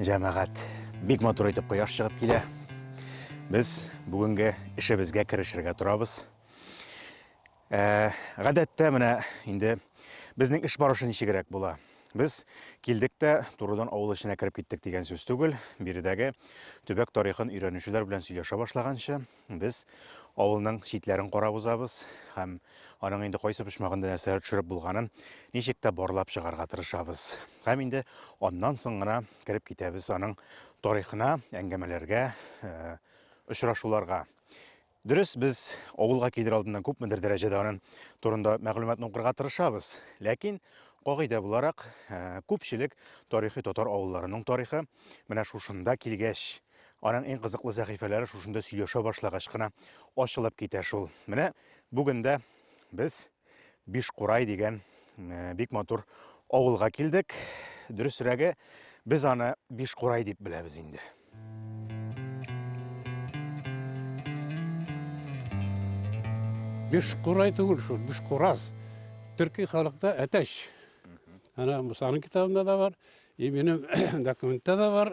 Җәмәгать, бик матур итеп кояш чыгып килә. Без бүгенге эшебезгә керешергә торабыз. Ә, гадәттә менә инде безнең эш барышы ничегрәк була. Без килдек тә турыдан авыл эченә кереп киттек дигән сүз түгел. Биредәге төбәк тарихын өйрәнүчеләр белән сөйләшә башлаганчы, Без авылның читләрен карап узабыз һәм аның инде кайсы почмагында нәрсәләр төшереп булганын ничек тә барлап чыгарга тырышабыз. Һәм инде аннан соң гына кереп китәбез аның тарихына, әңгәмәләргә, э, очрашуларга. Дөрес, без авылга килер алдыннан күпмедер дәрәҗәдә аның турында мәгълүматны укырга тырышабыз. Ләкин кагыйдә буларак, э, күпчелек тарихи татар авылларының тарихы менә шушында килгәч Аның иң кызыклы сәхифәләре шушында сөйләшә башлагач кына ачылып китә шул. Менә бүген дә без Бишкурай дигән э, бик матур авылга килдек. Дөресрәге, без аны Бишкурай дип беләбез инде. Бишкурай түгел шул, Бишкураз. Төрки халыкта әтәч. Ана Мусаның китабында да бар, и минем документта да бар.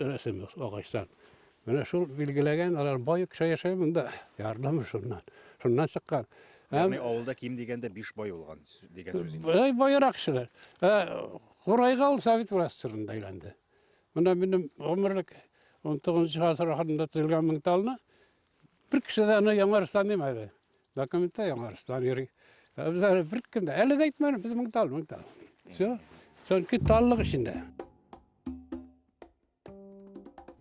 Рәсем агачтан. Менә шул билгеләгән, алар бай кеше яшәй монда. Ярдәм шуннан. Шуннан чыккан. Ягъни авылда ким дигәндә 5 бай булган дигән сүз инде. Бай байрак кешеләр. Ә Курайга ул совет властьларында әйләнде. Монда минем гомерлек 19 гасыр ахырында төзелгән меңталны Бер кеше дә аны яңарыштан димәде. Документта яңарыштан йөри. Ә без әле бер кем дә, әле дә әйтмәдем, без мең тал, мең тал. Все. Чөнки таллык эчендә.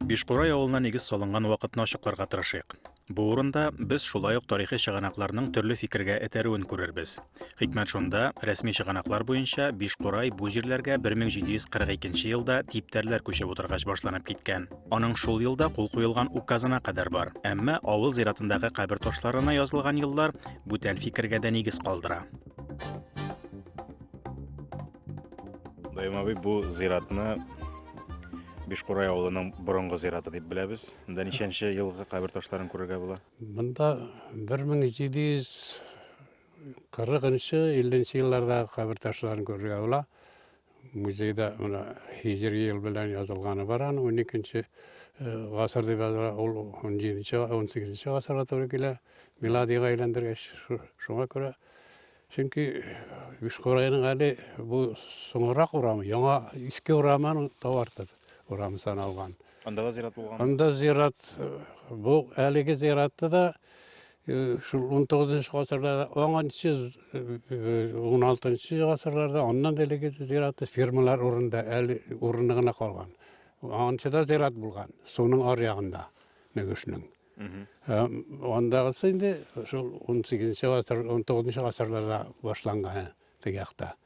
Бишкурай авылына нигез салынган вакытны ачыкларга тырышыйк. Бу урында без шулай ук тарихи чыганакларның төрле фикергә этәрүен күрербез. Хикмәт шунда, рәсми чыганаклар буенча Бишкурай бу җирләргә 1742 елда типтәрләр күчеп утыргач башланып киткән. Аның шул елда кул куелган указына кадәр бар. Әмма авыл зиратындагы кабер ташларына язылган еллар бүтән фикергә дә нигез калдыра. Даим абый бу зиратны Бишкурай авылының борынгы зираты дип беләбез. Монда ничәнче елгы кабер ташларын күрергә була? Монда 1700 40-нчы, 50-нче елларда кабер ташларын күрергә була. Музейда менә Хиҗри ел белән язылганы бар аны 12-нче э, гасыр дип языла. Ул 17-нче, 18-нче гасырга туры килә. Миладига әйләндергәч, шуңа күрә Чөнки Бишкурайның әле бу соңрак урамы, яңа иске урамын тавартыр урамы саналган. Анда да зират булган. Анда зират бу әлеге зиратта да Э, шул 19 гасырда оңанчы 16 гасырларда аннан элеге зираты фермалар урында әле урыны гына калган анчыда зират булган суның ар ягында мөгешнең э, андагысы инде шул 18 гасыр 19 гасырларда башланган теге якта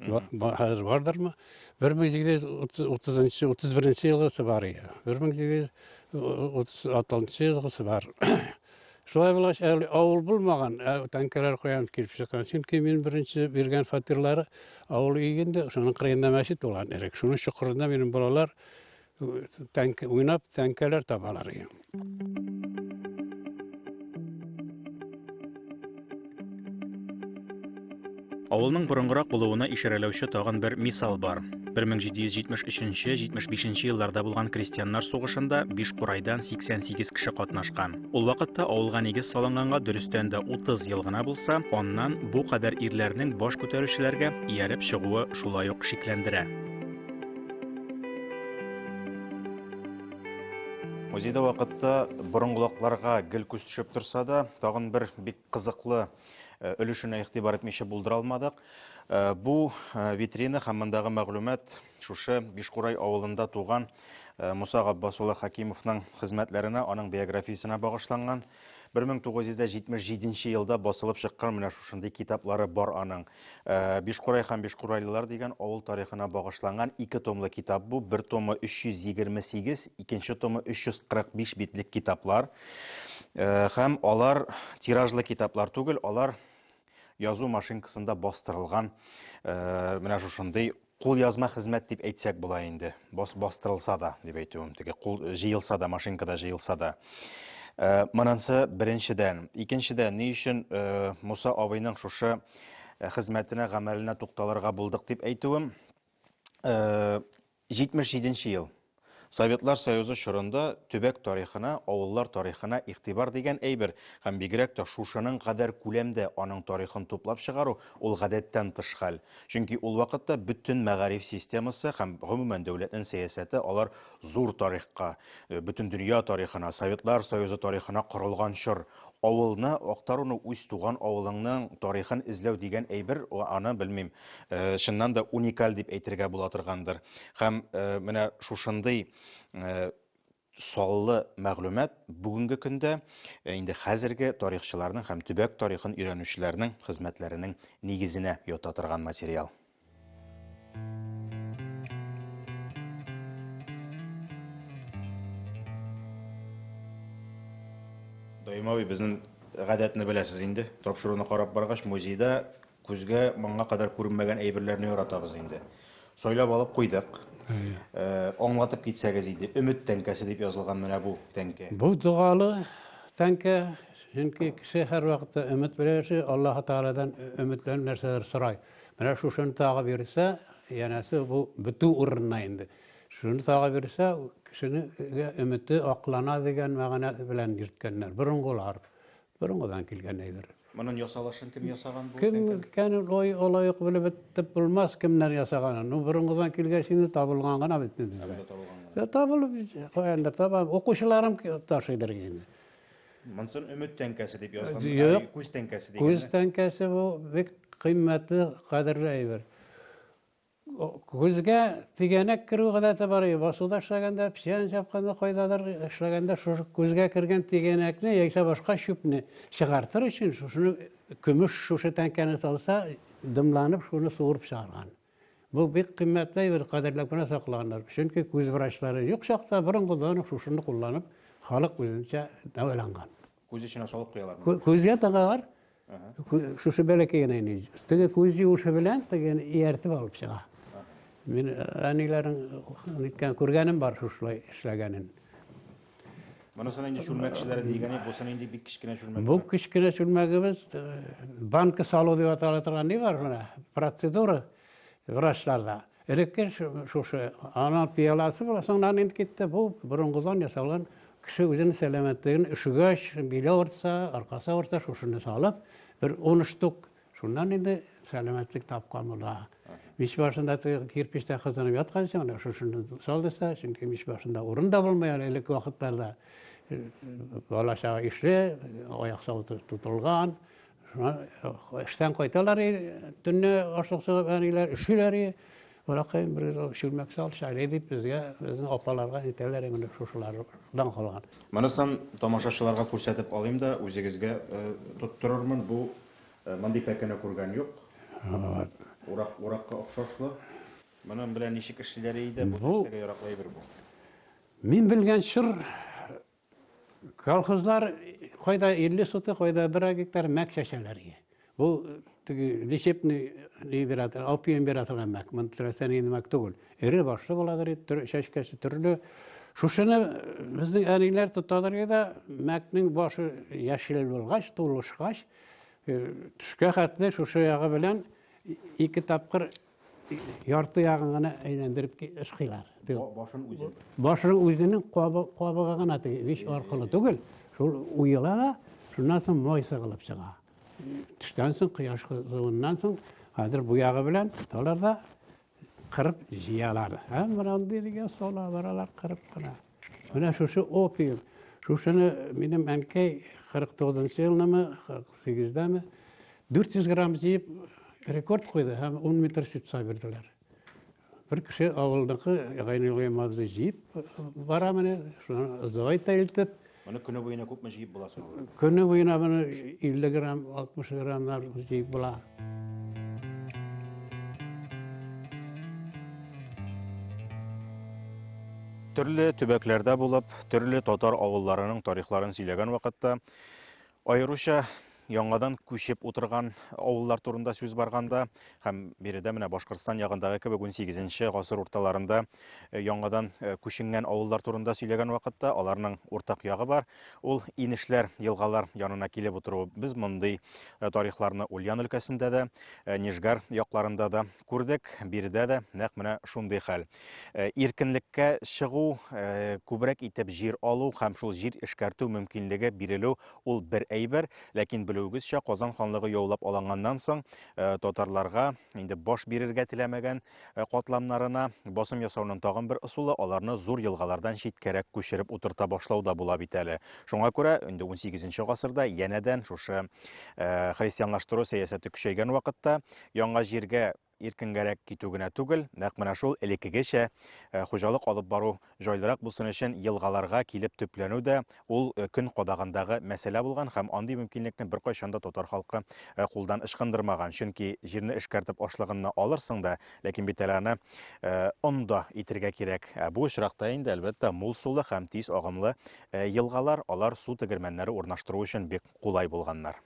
хәзер бардырмы бер мең җиде йөз утызынчы утыз беренче елгысы бар иә бер мең җиде йөз отыз алтынчы елгысы бар шулай булгач әле авыл булмаган ә, тәңкәләр куям килеп чыккан чөнки мин беренче биргән фатирлары авыл өй инде шуның кырыенда мәчет булган элек шуның чокырында минем балалар тәңкә уйнап тәңкәләр табалар Авылның борынгырак булуына ишарәләүче тагын бер мисал бар. 1773-75 елларда булган крестьяннар сугышында биш курайдан 88 кеше катнашкан. Ул вакытта авылга нигез салынганга дөрестән дә 30 ел гына булса, аннан бу кадәр ирләрнең баш күтәрүчеләргә ияреп чыгуы шулай ук шикләндерә. Музейда вакытта борынгылакларга гел күз төшеп торса да, тагын бер бик кызыклы э, өлешенә игътибар итмичә булдыра алмадык. Э, бу э, витрина һәм мондагы мәгълүмат шушы Бишкурай авылында туган Муса Габбасулы Хакимовның хезмәтләренә, аның биографиясенә багышланган. 1977 нче елда басылып чыккан менә шушындый китаплары бар аның. Э, Бишкурай һәм бишкурайлылар дигән авыл тарихына багышланган ике томлы китап бу. Бер томы 328, икенче томы 345 битлек китаплар. Э, һәм алар тиражлы китаплар түгел, алар язу машинкасында бастырылган э, менә шушындый Кулъязма хезмәт дип әйтсәк була инде. Бос бастырылса да, дип әйтүем, теге кул җыелса да, машинкада җыелса да. Э, Монысы беренчедән. Икенчедән, ни өчен э, Муса абыйның шушы э, хезмәтенә, гамәленә тукталырга булдык дип әйтүем? Э, 77 нче ел. Советлар Союзы чорында төбәк тарихына, авыллар тарихына игътибар дигән әйбер һәм бигрәк тә шушының кадәр күләмдә аның тарихын туплап чыгару ул гадәттән тыш хәл. Чөнки ул вакытта бөтен мәгариф системасы һәм, гомумән, дәүләтнен сәясәте алар зур тарихка, бөтендөнья тарихына, Советлар Союзы тарихына корылган чор. Авылны актаруны үз туган авылыңның тарихын эзләү дигән әйбер, аны белмим, чыннан да уникаль дип әйтергә була торгандыр. Һәм менә шушындый саллы мәгълүмат бүгенге көндә инде хәзерге тарихчыларның һәм төбәк тарихын өйрәнүчеләрнең хезмәтләренең нигезенә ята торган материал. Даимави безнең гадәтне беләсез инде. Тапшыруны карап баргач, музейда күзгә моңа кадәр күренмәгән әйберләрне яратабыз инде. Сойлап алып куйдык. Э, аңлатып китсәгез иде. Өмет тәңкәсе дип язылган менә бу тәңкә. Бу догалы тәңкә, чөнки кеше һәрвакытта өмет белән яши, Аллаһ Тааладан өмет белән нәрсәдер сорай. Менә шушыны тагы бирсә, янәсе бу бетү урынына инде. Шуны тагы бирсә, кешенең өмете аклана дигән мәгънә белән йөрткәннәр. Борынгылар. Борынгыдан килгән әйбер. Моның ясалышын кем ясаган бу? Кем икән ой олай ук белеп бетеп булмас кемнәр ясаганын. Ну борынгыдан килгәч инде табылган гына бит безгә. Табылган гына. Табылып каяндыр табам. Укучыларым ташыйдыр инде. Монсын өмет тәңкәсе дип язган. Юк. Күз тәңкәсе дигән. Күз тәңкәсе бу бик кыйммәтле, кадерле әйбер. Күзгә тигәнәк керү гадәте бар иде. Басуда эшләгәндә, псиан чапканда кайдадыр эшләгәндә шушы күзгә кергән тигәнәкне яисә башка чүпне чыгартыр өчен шушыны көмеш шушы тәңкәне салса, дымланып шуны суырып чыгарган. Бу бик кыйммәтле әйбер, кадерләп кенә саклаганнар. Чөнки күз врачлары юк чакта борынгыдан ук шушыны кулланып, халык үзенчә дәваланган. Күз эченә салып куялар. Күзгә тыгалар. Шушы бәләкәй генә инде. Теге күз юышы белән теге ияртеп алып чыга. Мин әниләрнең күргәнем бар шушылай эшләгәнен. Монысы нинди чүлмәкчеләре дигәне, бусы нинди бик кечкенә чүлмәк. Бу кечкенә чүлмәгебез э, банка салу дип атала торган ни бар менә процедура врачларда. Элекке шушы ана пияласы була, соңнан инде китте. Бу борынгыдан ясалган кеше үзенең сәламәтлеген өшегәч, биле авырса, аркасы авырса, шушыны салып, бер 10 штук Шуннан инде сәламәтлек тапкан була. Мич башында кирпичтә кызынып ятканча, менә шушыны салдыса, чөнки мич башында урын да булмый әле элек вакытларда. Э, бала чага ишле, аяк сау тотылган. Эштән кайталар, төнне ашлык сугып әниләр өшиләр. Балакаем бер шүлмәк сал, шәйле дип безгә, безнең апаларга әйтәләр инде шушылардан калган. Монысын тамашачыларга күрсәтеп алыйм да, үзегезгә э, тоттырырмын. Бу Мондый пәкене күргән юк. Вот. Урак, уракка охшашлы. Моның белән ничек эшлиләр иде? Бу нәрсәгә яраклы әйбер бу? Мин белгән чор колхозлар кайда 50 сотык, кайда 1 гектар мәк чәчәләр иде. Бу теге лечебный либератор, опиум бирә торган мәк. Монда теләсә нинди мәк түгел. Эре башлы буладыр ит, чәчкәсе төрле. Шушыны безнең әниләр тотадыр иде, мәкнең башы яшел булгач, тулышкач, э, төшкә хәтле шушы ягы белән ике тапкыр ярты ягын гына әйләндереп ышкыйлар. Башын үзен. Башын үзенең кабыгы гына биш аркылы түгел, шул уела да, шуннан соң май сыгылып чыга. Төштән соң, кояш кызуыннан соң, хәзер бу ягы белән тоталар да, Кырып җыялар. Һәм брандиргә сала баралар кырып кына. Менә шушы опиум. Шушыны минем әнкәй 49 елнымы, 48-дәме 400 грамм җыеп рекорд куйды һәм 10 метр ситса бирделәр. Бер кеше авылдагы Гайнулла Мавзы җыеп бара менә, шуны зойтелтеп Моны көне буена күпме җыеп була соң? Көне буена моны 50 грамм, 60 граммнар җыеп була. Төрле төбәкләрдә булып, төрле татар авылларының тарихларын сөйләгән вакытта Аеруча яңадан күчеп утырган авыллар турында сүз барганда һәм биредә менә Башкортстан ягындагы кебек 18-нче гасыр урталарында э, яңадан э, күченгән авыллар турында сөйләгән вакытта аларның уртак ягы бар. Ул инешләр, елгалар янына килеп утыру. Без мондый э, тарихларны Ульян өлкәсендә дә, Нижгар якларында да күрдек, биредә дә нәкъ менә шундый хәл. Э, иркенлеккә чыгу э, күбрәк итеп җир алу һәм шул җир эшкәртү мөмкинлеге бирелү ул бер әйбер ләкин белүегезчә казан ханлыгы яулап алынганнан соң э, татарларга инде баш бирергә теләмәгән катламнарына басым ясауның тагын бер ысулы аларны зур елгалардан читкәрәк күчереп утырта башлау да була бит әле шуңа күрә инде 18 гасырда янәдән шушы христианлаштыру сәясәте көчәйгән вакытта яңа җиргә Иркенгәрәк китү генә түгел, нәкъ менә шул элеккегечә хуҗалык алып бару җайлырак булсын өчен елгаларга килеп төпләнү дә ул көн кадагындагы мәсьәлә булган һәм андый мөмкинлекне беркайчан да татар халкы кулдан ычкындырмаган. Чөнки җирне эшкәртеп ашлыгынны алырсың да, ләкин бит әле аны он да итергә кирәк. Ә бу очракта инде, әлбәттә, мул сулы һәм тиз агымлы елгалар, алар су тегермәннәре урнаштыру өчен бик кулай булганнар.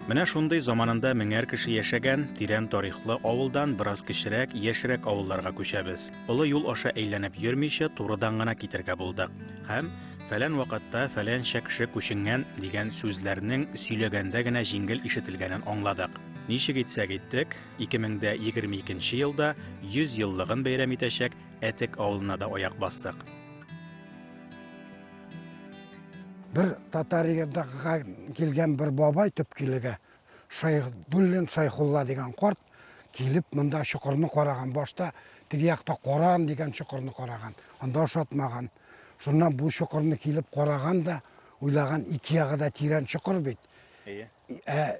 Менә шундый заманында меңәр кеше яшәгән тирән тарихлы авылдан бераз кечерәк, яшьрәк авылларга күчәбез. Олы юл аша әйләнеп йөрмичә, турыдан гына китергә булдык. Һәм фәлән вакытта фәлән кеше күченгән дигән сүзләрнең сөйләгәндә генә җиңел ишетелгәнен аңладык. Ничек итсәк иттек, 2022 елда 100 еллыгын бәйрәм итәчәк Әтек авылына да аяк бастык. Бер татар егетдагыга килгән бер бабай төпкилегә Шайхдуллин Шайхулла дигән корт килеп монда чокырны караган. Башта теге якта Коран дигән чокырны караган. Анда ошатмаган. Шуннан бу чокырны килеп караган да, уйлаган ике ягы да тирән чокыр бит. Әйе. Ә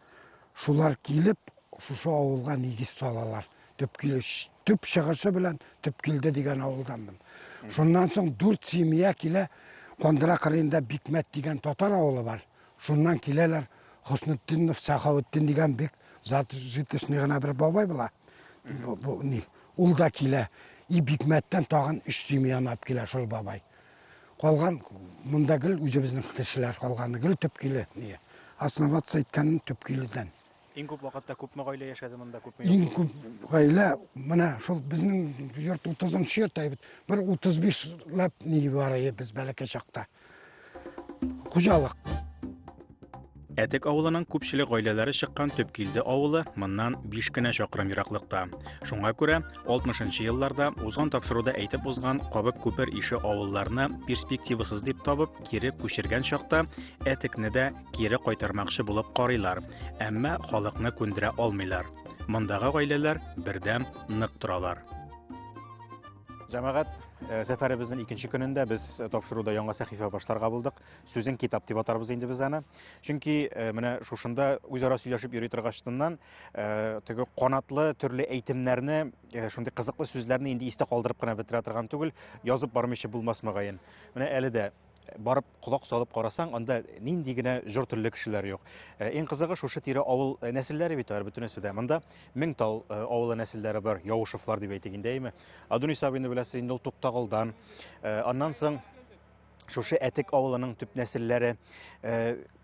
Шулар килеп, шушы авылга нигез салалар. Төп килеш, төп чыгышы белән төп килде дигән авылданмын. Шуннан соң дүрт семья килә, Кондыра кырында Бикмәт дигән татар авылы бар. Шуннан киләләр Хөснетдинов Сахауттин дигән бик зат житешный гына бер бабай була. Бу, бу, ни, ул да килә. И Бикмәттән тагын өч семья ап килә шул бабай. Калган монда гел үзебезнең кешеләр калганы, гел төпкиле. Ние? Основаться иткәнем төпкиледән. Иң күп вакытта күпме гаилә яшәде монда, күпме? Иң күп гаилә менә шул безнең йорт 30-нчы йорт әйбит. Бер 35 лап ни бар без бәләкәй чакта. Хуҗалык. Әтек авылының күпчелек гаиләләре чыккан Төпкилде авылы моннан 5 кенә чакрым ераклыкта. Шуңа күрә 60-нчы елларда узган тапшыруда әйтеп узган Кабык күпер ише авылларны перспективасыз дип табып, кире күчергән чакта Әтекне дә кире кайтармакчы булып карыйлар, әмма халыкны күндерә алмыйлар. Мондагы гаиләләр бердәм нык торалар. Җәмәгать э, сәфәребезнең икенче көнендә без тапшыруда яңа сәхифә башларга булдык. Сүзен китап дип атарбыз инде без аны. Чөнки э, менә шушында үзара сөйләшеп йөри торгачтыннан э, теге канатлы төрле әйтемнәрне, э, шундый кызыклы сүзләрне инде истә калдырып кына бетерә торган түгел, язып бармыйча булмас мөгаен. Менә әле дә барып колак салып карасаң, анда нинди генә җор төрле кешеләр юк. Э, иң кызыгы шушы тирә авыл э, нәселләре бит алар бөтенесе дә. Монда Меңтал э, авылы нәселләре бар, Явышевлар дип әйтик инде, әйме. Адунис абыйны беләсез инде ул Туктагылдан. Аннан соң шушы әтек авылының төп нәселләре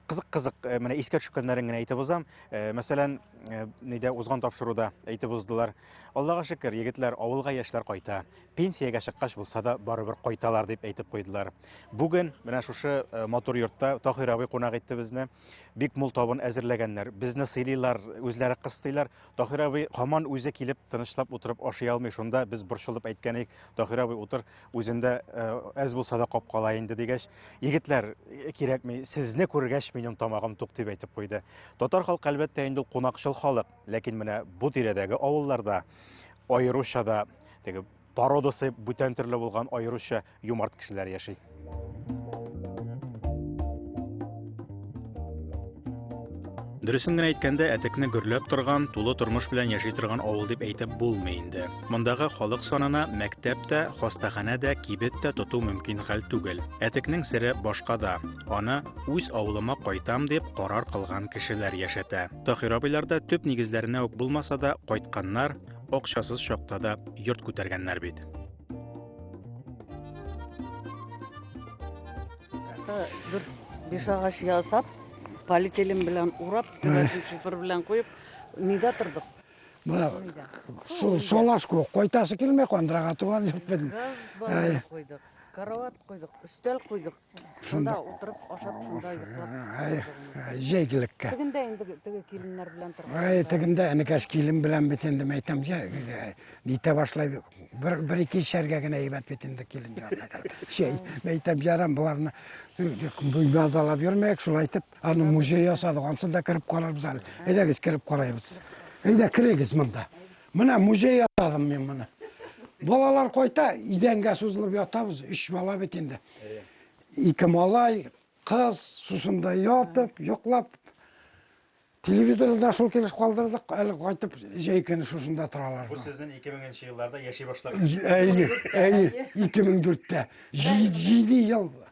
кызык кызык э, менә искә төшкәннәрен генә әйтеп узам э, мәсәлән э, нидә узган тапшыруда әйтеп уздылар аллага шөкер егетләр авылга яшьләр кайта пенсиягә чыккач булса да барыбер кайталар дип әйтеп куйдылар бүген менә шушы матур йортта таһир абый кунак итте безне бик мул табын әзерләгәннәр безне сыйлыйлар үзләре кыстыйлар таһир абый һаман үзе килеп тынычлап утырып ашый алмый шунда без борчылып әйткән идек таһир абый утыр Үзендә әз булса да капкала инде дигәч, егетләр кирәкми, сезне күргәч минем тамагым тук дип әйтеп куйды. Татар халкы әлбәттә инде кунакчыл халык, ләкин менә бу тирәдәге авылларда аеруча да теге породасы бүтән төрле булган аеруча юмарт кешеләр яши. Дөресен генә әйткәндә, әтекне гөрләп торган, тулы тормыш белән яши торган авыл дип әйтеп булмый инде. Мондагы халык санына мәктәп тә, хастаханә дә, кибет тә тоту мөмкин хәл түгел. Әтекнең сере башка да. Аны үз авылыма кайтам дип карар кылган кешеләр яшәтә. Таһир абыйларда төп нигезләренә үк булмаса да, кайтканнар, акчасыз чакта да йорт күтәргәннәр бит. Дүрт биш агач ясап, полиэтилен белән урап, түбәсен шифер белән куеп, нидә тордык? Мына су солаш күк койтасы килмәй кандырага туган юк бит. Газ койдык. Карават койдык, өстәл койдык. Шунда утырып ашап шунда йоклап. Җәйгелеккә. Тегендә инде теге киленнәр белән торган. Ай, тегендә энекәш килен белән бит инде мәйтәм җә. Нитә башлай бер бер ике шәргә генә әйбәт бит инде килен җанына. Җәй мәйтәм җарам боларны. Бу язалап йөрмәк шулайтып. Аны музей ясадык, ансын да кереп карарбыз әле. Әйдәгез кереп карайбыз. Әйдә керегез монда. Менә музей ясадым мин моны. Балалар кайта, идәнгә сузылып ятабыз, үч бала бит инде. Ике малай, кыз, сусында ятып, йоклап. Телевизорны да шул килеш калдырдык, әле кайтып җәй көне шушында торалар. Бу сезнең 2000 елларда яши башлаган. Әйе, әйе, 2004-тә. 7 ел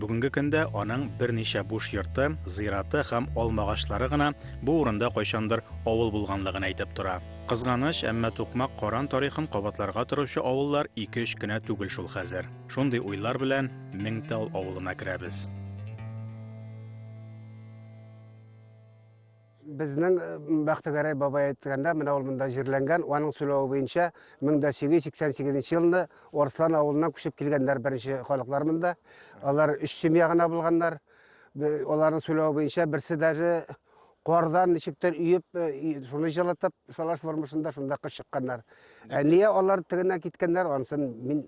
Бүгенге көндә аның берничә буш йорты, зираты һәм алмагачлары гына бу урында кайчандыр авыл булганлыгын әйтеп тора. Кызганыч, әмма Тукмак Каран тарихын кабатларга торучы авыллар ике-өч кенә түгел шул хәзер. Шундый уйлар белән Меңтал авылына керәбез. Безнең э, Бәхтегәрәй бабай әйткәндә, менә ул монда җирләнгән, аның сөйләве буенча 1888 елны Орслан авылыннан күчеп килгәннәр беренче халыклар монда. Алар өч семья гына булганнар. Аларның сөйләве буенча берсе даже кардан ничектер үйеп, э, шуны җылытып, шалаш формасында шунда кыз чыкканнар. Ә нигә алар тегенә киткәннәр, анысын мин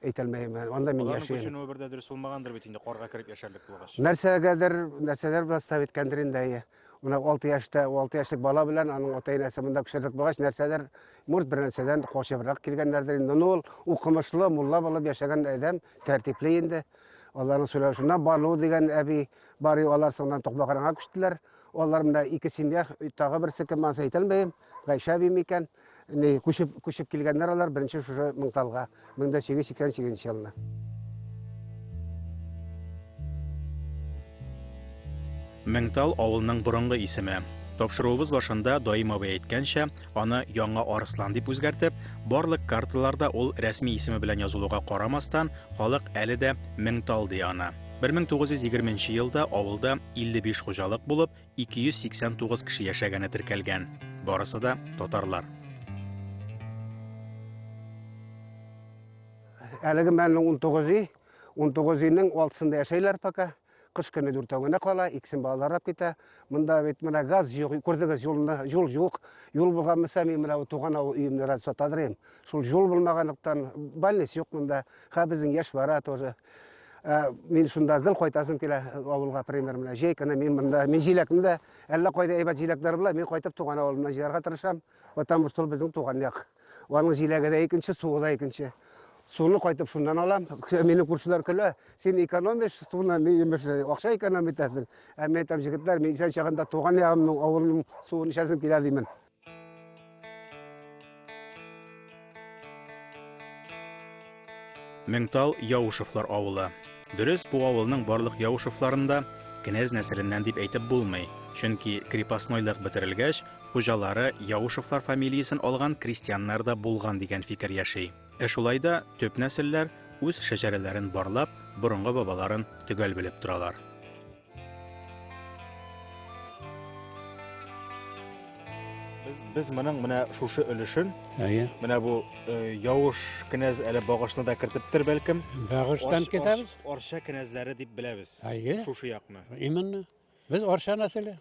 әйтәлмәйм. Анда мин яшим. Аларның көченүе бер дә дөрес булмагандыр бит инде карга кереп яшәрлек булгач. Нәрсәгәдер, нәрсәләр белән став иткәндер инде. Менә 6 яшьтә, 6 яшьлек бала белән аның ата-энесе монда күчерлек булгач, нәрсәдер, может, бер нәрсәдән качыбрак килгәннәрдер инде. Ну, ул укымышлы, мулла булып яшәгән адәм, тәртипле инде. Аларның сөйләшүенә Бану дигән әби бар, алар соңыннан Токмагарга күчтеләр. Алар менә ике семья, тагы берсе кем аны әйтә алмыйм. Гайша әби микән? Ни күчеп күчеп килгәннәр алар беренче шушы Мыңталга 1888 елны. Меңтал авылның борынгы исеме. Тапшыруыбыз башында Даим абый әйткәнчә, Аны Яңа Арыслан дип үзгәртеп, барлык карталарда ул рәсми исеме белән язылуга карамастан, халык әле дә Меңтал ди аны. 1920 елда авылда 55 хуҗалык булып, 289 кеше яшәгәне теркәлгән. Барысы да татарлар. Әлеге мәннең 19 ий, 19 иның алтысында яшәйләр пока. Кыш көне дүртәү генә кала, икесен балалар алып китә. Монда бит менә газ юк, күрдегез, юлны, юл юк. Юл булганмаса, мин менә туган авыл өемне раз сатадыр идем. Шул юл булмаганлыктан больниц юк монда. Ха безнең яшь бара тоже. Ә, Мин шунда гел кайтасым килә э, авылга, пример менә. Җәй көне мин монда, мин җиләкне дә әллә кайда әйбәт җиләкләр була, мин кайтып туган авылымнан җыярга тырышам, потому что ул безнең туган як. Аның җиләге дә икенче, суы да икенче. Суны кайтып шуннан алам. Мине күршеләр көлә. Син экономишь суны, мин имеш, акча экономить итәсең. Ә мин әйтәм, җегетләр, мин исән чагында туган ягымның, авылның суын эчәсем килә димен. Меңтал Яушевлар авылы. Дөрес, бу авылның барлык Яушевларында кенәз нәселеннән дип әйтеп булмый, чөнки крепостнойлык бетерелгәч, хуҗалары Яушевлар фамилиясен алган крестьяннар да булган дигән фикер яши. Ә шулай да төп нәселләр үз шәҗәрәләрен барлап, борынгы бабаларын төгәл белеп торалар. Без, без моның менә шушы өлешен, Әйе. менә бу э, явыш кенәз әле багышны да кертептер бәлкем. Багыштан Арш- китәбез. арш- Арча кенәзләре дип беләбез. Әйе. Шушы якны. Именно. Без Арча нәселе.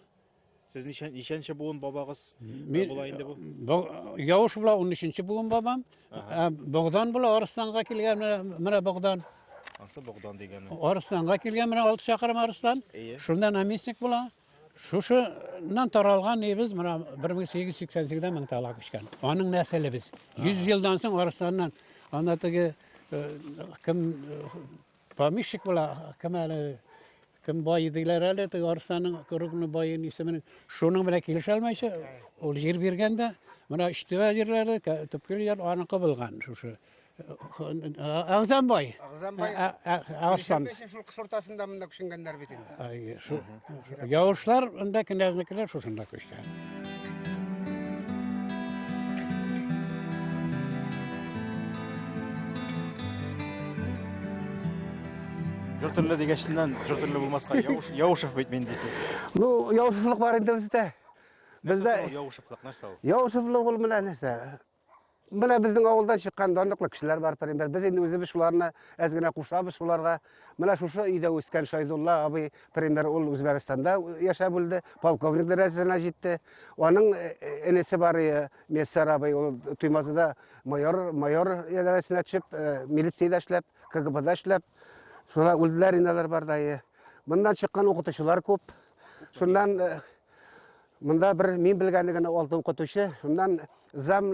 Сез ничә, ничәнче буын бабагыз Мин, була инде бу? Бу- Явыш була 13-нче буын бабам. Ә, Богдан була Арыстанга килгән менә- менә Богдан. Ансы Богдан дигәне. Арыстанга килгән менә 6 чакрым Арыстан. Әйе. Шунда наместник була. Шушыннан таралган небез менә 1888-дә мең тала күчкән. Аның нәселе без. 100 елдан соң Арыстаннан ана теге э, кем э, помещик була, кем әле Кем бай диләр әле, теге Арсаның Кругны байын исемен. Шуның белән килешә алмыйча, ул җир биргән дә, менә Өчтүбә җирләре, төпкел җир аныкы булган шушы. Агзамбай. Агзамбай. Арслан. Шул кыш уртасында монда күченгәннәр бит инде. Ай, шул. Яушлар, анда кенәзнекеләр шушында күчте. Жыр төрле дигәченнән, жыр төрле булмаска, Яуш, Яушев бит мин дисез. Ну, яушыфлык бар инде бездә. Нәрсә Бездә ул Яушевлык, нәрсә ул? яушыфлык ул менә нәрсә? Менә безнең авылдан чыккан данлыклы кешеләр бар, пример. Без инде үзебез шуларны әз генә кушабыз шуларга. Менә шушы өйдә үскән Шайдулла абый, пример, ул Үзбәкстанда яшәп үлде, полковник дәрәҗәсенә җитте. Аның э, э, энесе бар иде, Мессар абый, ул Туймазыда майор, майор дәрәҗәсенә төшеп, э, милициядә эшләп, КГБда эшләп, шулар үлделәр инде алар бар да. Моннан чыккан укытучылар күп. Шуннан Монда бер мин белгәне генә алты укытучы, шуннан зам,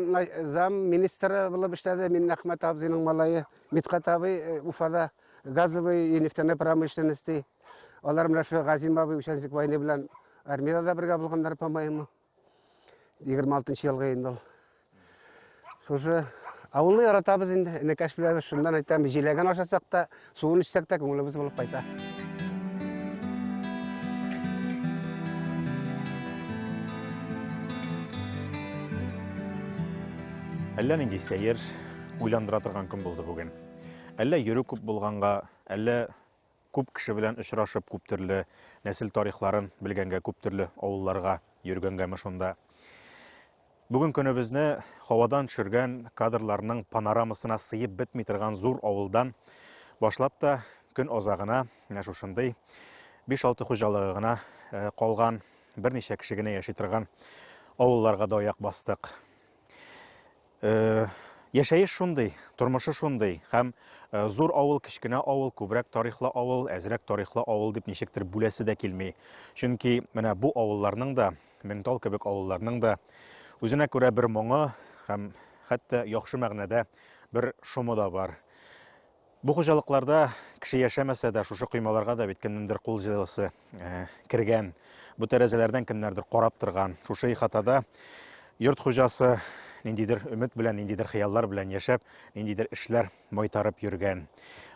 зам министры булып эшләде Миннәхмәт абзыйның малае. Мидхәт абый э, Уфада газовый и нефтяной промышленности. Алар менә шул Газим абый Участник войны белән армиядә дә бергә булганнар, по-моему. 26 елга инде ул. Шушы авылны яратабыз инде, энекәш белән шуннан әйтәм, җиләген ашасак та, суын эчсәк тә күңелебез булып кайта. Әллә нинди сәер, уйландыра торган көн булды бүген. Әллә йөрү күп булганга, әллә Күп кеше белән очрашып, күп төрле нәсел тарихларын белгәнгә, күп төрле авылларга йөргәнгәме шунда. Бүген көнебезне һавадан төшергән кадрларның панорамасына сыеп бетми торган зур авылдан башлап та көн азагына менә шушындый 5-6 хуҗалыгы гына э, калган берничә кеше генә яши торган авылларга да аяк бастык. Э, Яшәеш шундый, тормышы шундый һәм э, зур авыл, кечкенә авыл, күбрәк тарихлы авыл, әзрәк тарихлы авыл дип ничектер бүләсе дә килми. Чөнки менә бу авылларның да, Меңтал кебек авылларның да үзенә күрә бер моңы һәм хәтта яхшы мәгънәдә бер шомы да бар. Бу хуҗалыкларда кеше яшәмәсә дә, шушы коймаларга да бит кемнеңдер кул җылысы э, кергән. Бу тәрәзәләрдән кемнәрдер карап торган. Шушы ихатада йорт хуҗасы ниндидер өмет белән, ниндидер хыяллар белән яшәп, ниндидер эшләр майтарып йөргән.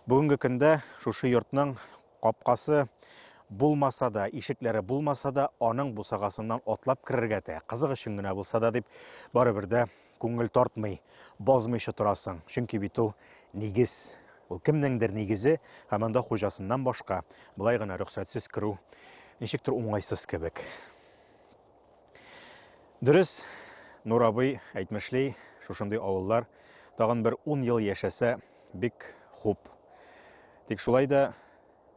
Бүгенге көндә шушы йортның капкасы булмаса да, ишекләре булмаса да, аның бусагасыннан атлап керергә тә, кызык өчен генә булса да дип, барыбер дә Күңел тартмый, бозмыйча торасың, чөнки бит ул нигез. Ул кемнеңдер нигезе, һәм анда хуҗасыннан башка болай гына рөхсәтсез керү ничектер уңайсыз кебек. Дөрес, Нур абый әйтмешли, шушындый авыллар тагын бер ун ел яшәсә, бик хуп. Тик шулай да